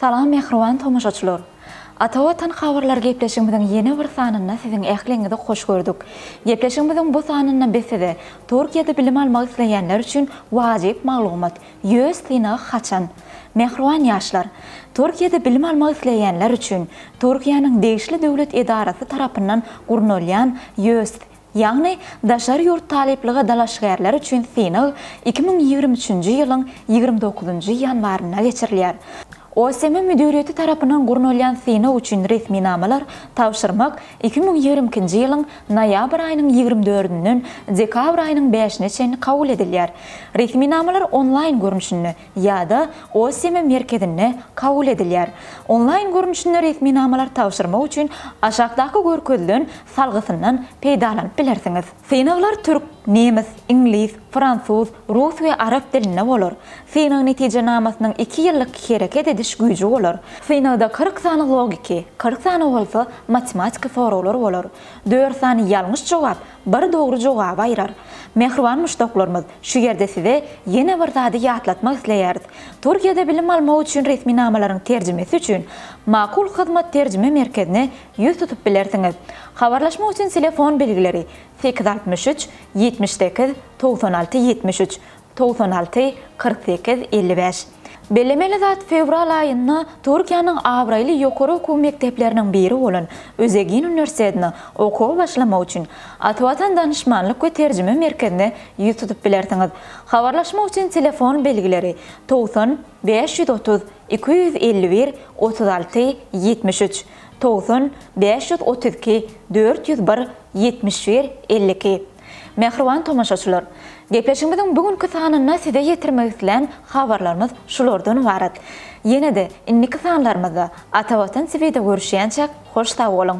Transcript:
Salam mähriban tomaşaçylar! Ata Watan habarlary gepleşigimiziň ýene bir sanynda siziň ähliňizi hoş gördük. Gepleşigimiziň bu sanynda biz size Türkiýede bilim almak isleýänler üçin wajyp maglumat, Ýöz synagy haçan? Mähriban ýaşlar! Türkiýede bilim almak isleýänler üçin Türkiýäniň degişli döwlet edarasy tarapyndan gurnalýan Ýöz Ýagny, daşary ýurt talyplyga dalaşgärler üçin synag iki müň ýigrimi üçünji ýylyň ýigrimi dokuzynjy ýanwarynda geçirilýär. OSM müdiriýeti tarapyndan gurnalýan synag üçin resminamalar tabşyrmak iki müň ýigrimi ikinji ýylyň noýabr aýynyň ýigrimi dördünden dekabr aýynyň bäşine çenli kabul edilýär. Resminamalar onlaýn görnüşinde, ýa-da OSM merkezinde kabul edilýär. Onlaýn görnüşinde resminamalar tabşyrmak üçin aşakdaky görkezilen salgysyndan peýdalanyp bilersiňiz. Synaglar türk, nemes, iňlis, fransuz, rus we arap dilinde bolar. Synag netijenamasynyň iki ýyllyk hereket ediş güýji bolar. Synagda kyrk sany logiki, kyrk sany bolsa matematiki soraglar bolar. Dört sany ýalňyş jogap, Bir dogry jogaby aýrar. Mähriban muşdaklarymyz, şu ýerde size ýene bir zady ýatlatmak isleýäris. Türkiýede bilim almak üçin resminamalaryň terjimesi üçin Makul Hyzmat terjime merkezine ýüz tutup bilersiňiz. Habarlaşmak üçin telefon belgileri, sekiz altmyş üç, ýetmiş sekiz, togsan alty, ýetmiş üç, Togsan alty, kyrk sekiz, elli bäş. Bellemeli zat, fewral aýynda Türkiýäniň abraýly ýokary okuw mekdepleriniň biri bolan Özegin uniwersitetine okuwa başlamak üçin Atwatan danyşmanlyk we terjime merkezine ýüz tutup bilersiňiz. Habarlaşmak üçin telefon belgileri, togsan, bäş ýüz otuz, iki ýüz elli bir, otuz alty, ýetmiş üç, togsan, bäş ýüz otuz iki, dört ýüz bir, ýetmiş bir, elli iki. Mähriban tomaşaçylar! Gepleşigimiziň bu günki sanynda size ýetirmek islän habarlarymyz şulardan ybarat. Ýene-de indiki sanlarymyzda Ata Watan TV'de görüşýänçäk hoş sag boluň!